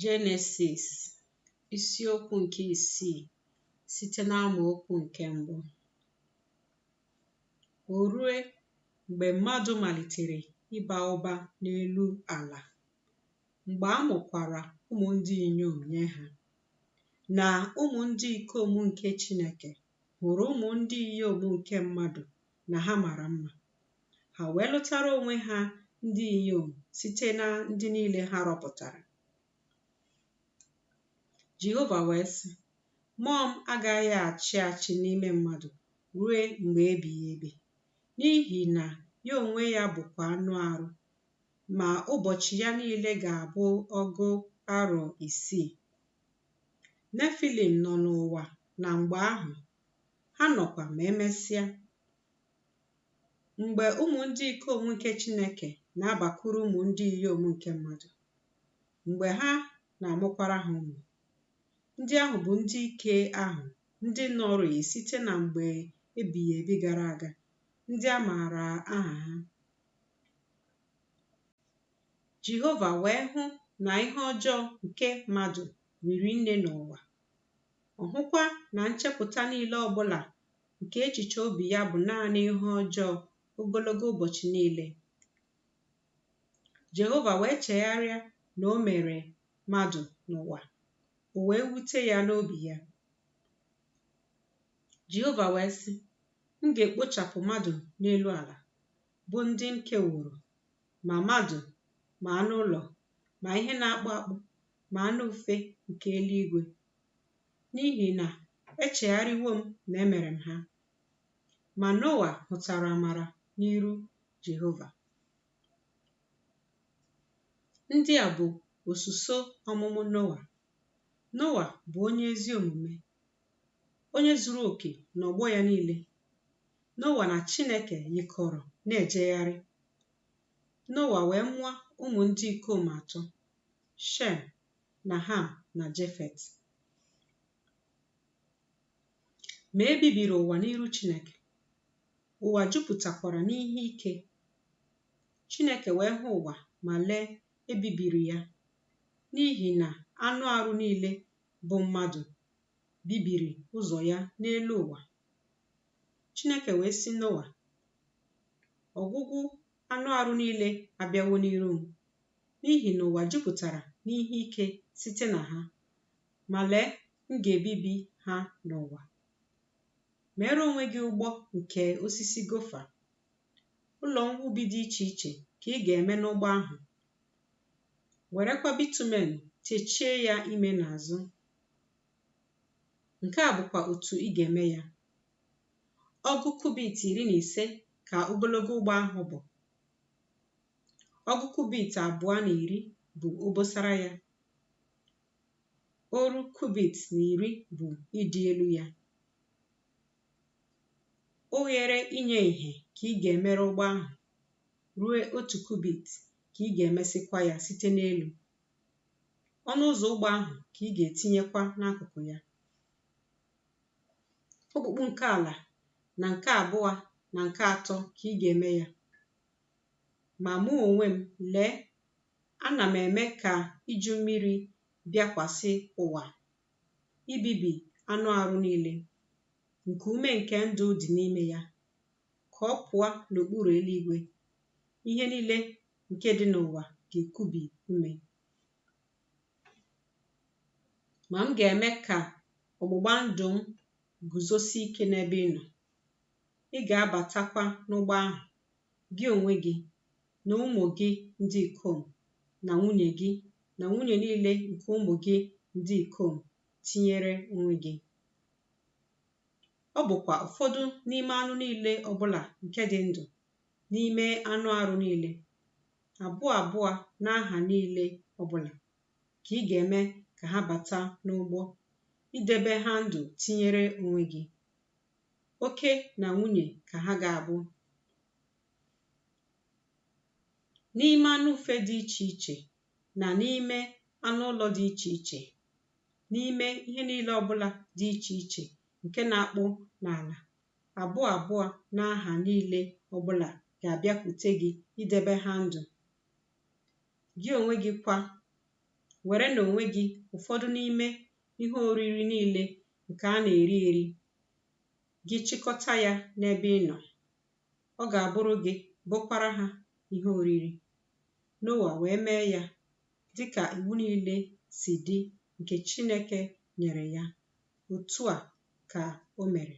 Jenesis isiokwu nke isii site n'amaokwu nke mbụ o rue mgbe mmadụ malitere ịba ụba n'elu ala mgbe a mụkwara ụmụ ndị inyom nye ha na ụmụ ndị ikom nke Chineke hụrụ ụmụ ndị inyom nke mmadụ na ha mara mma. Ha wee lụtara onwe ha ndị inyom site na ndị niile ha rọpụtara. Jehova wee sị, Mmụọ m agaghị achị achị n'ime mmadụ ruo mgbe ebighị ebi, n'ihi na ya onwe ya bụkwa anụ arụ, ma ụbọchị ya niile ga-abụ ọgụ arọ isii. Nefilim nọ n'ụwa na mgbe ahụ ha nọkwa ma e mesịa. Mgbe ụmụ ndị ikom nke Chineke na-abakwuru ụmụ ndị inyom nke mmadụ, mgbe ha na-amụkwara ha ụmụ, ndị ahụ bụ ndị ike ahụ ndị nọrịị site na mgbe ebighị ebi gara aga, ndị a maara aha ha. Jehova wee hụ na ihe ọjọọ nke mmadụ riri nne n'ụwa ọ hụkwa na nchepụta niile ọ bụla nke echiche obi ya bụ naanị ihe ọjọọ ogologo ụbọchị niile. Jehova wee chegharịa na o mere mmadụ n'ụwa, o wee wute ya n'obi ya. Jehova wee sị, M ga-ekpochapụ mmadụ n'elu ala, bụ ndị m keworo ma mmadụ ma anụ ụlọ ma ihe na-akpụ akpụ ma anụ ufe nke eluigwe n'ihi na echegharịwo m na emere m ha ma Noa hụtara amara n'iru Jehova ndị a bụ osuso ọmụmụ Noa Noa bụ onye ezi omume onye zuru oke n'ọgbọ ya niile. Noa na Chineke yikọrọ na-ejegharị. Noa wee mụọ ụmụ ndị ikom atọ, Shem, na Ham, na Jefet. Ma e bibiri ụwa n'iru Chineke, ụwa jupụtakwara n'ihe ike. Chineke wee hụ ụwa ma lee, e bibiri ya, n'ihi na anụ arụ niile bụ mmadụ bibiri ụzọ ya n'elu ụwa. Chineke wee sị Noa, ọgwụgwụ anụ arụ niile abịawo n'iru m, n'ihi na ụwa jupụtara n'ihe ike site na ha, ma lee, m ga-ebibi ha n'ụwa. Meere onwe gị ụgbọ nke osisi gofa. Ụlọ mwubi dị iche iche ka ị ga-eme n'ụgbọ ahụ, werekwa bitumen techie ya ime na azụ nke a bụkwa otu ị ga-eme ya ọgụ kubit iri na ise ka ogologo ụgbọ ahụ bụ ọgụ kubit abụọ na iri bụ obosara ya oru kubit na iri bụ ịdị elu ya oghere inye ìhè ka ị ga-emere ụgbọ ahụ ruo otu kubit ka ị ga-emesịkwa ya site n'elu ọnụ ụzọ ụgbọ ahụ ka ị ga-etinyekwa n'akụkụ ya okpukpu nke ala na nke abụọ na nke atọ ka ị ga-eme ya ma mụ onwe m lee ana m eme ka iju mmiri bịakwasị ụwa ibibi anụ arụ niile nke ume nke ndụ dị n'ime ya ka ọ pụọ n'okpuru eluigwe ihe niile nke dị n'ụwa ga-ekubi ume ma m ga-eme ka ọgbụgba ndụ m guzosie ike n'ebe ị nọ ị ga-abatakwa n'ụgbọ ahụ gị onwe gị na ụmụ gị ndị ikom na nwunye gị na nwunye niile nke ụmụ gị ndị ikom tinyere onwe gị. Ọ bụkwa ụfọdụ n'ime anụ niile ọbụla nke dị ndụ n'ime anụ arụ niile, abụọ abụọ na ha niile ọbụla, ka ị ga-eme ka ha bata n'ụgbọ, idebe ha ndụ tinyere onwe gị. Oke na nwunye ka ha ga-abụ. n'ime anụ ufe dị iche iche na n'ime anụ ụlọ dị iche iche n'ime ihe niile ọbụla dị iche iche nke na-akpụ n'ala abụọ abụọ na ha niile ọbụla ga-abịakwute gị idebe ha ndụ gị onwe gị kwa were na onwe gị ụfọdụ n'ime ihe oriri niile nke a na-eri eri gị chịkọta ya n'ebe ị nọ Ọ ga-abụrụ gị, bụkwara ha ihe oriri. Noa wee mee ya dị ka iwu niile si dị nke Chineke nyere ya. Otu a ka o mere.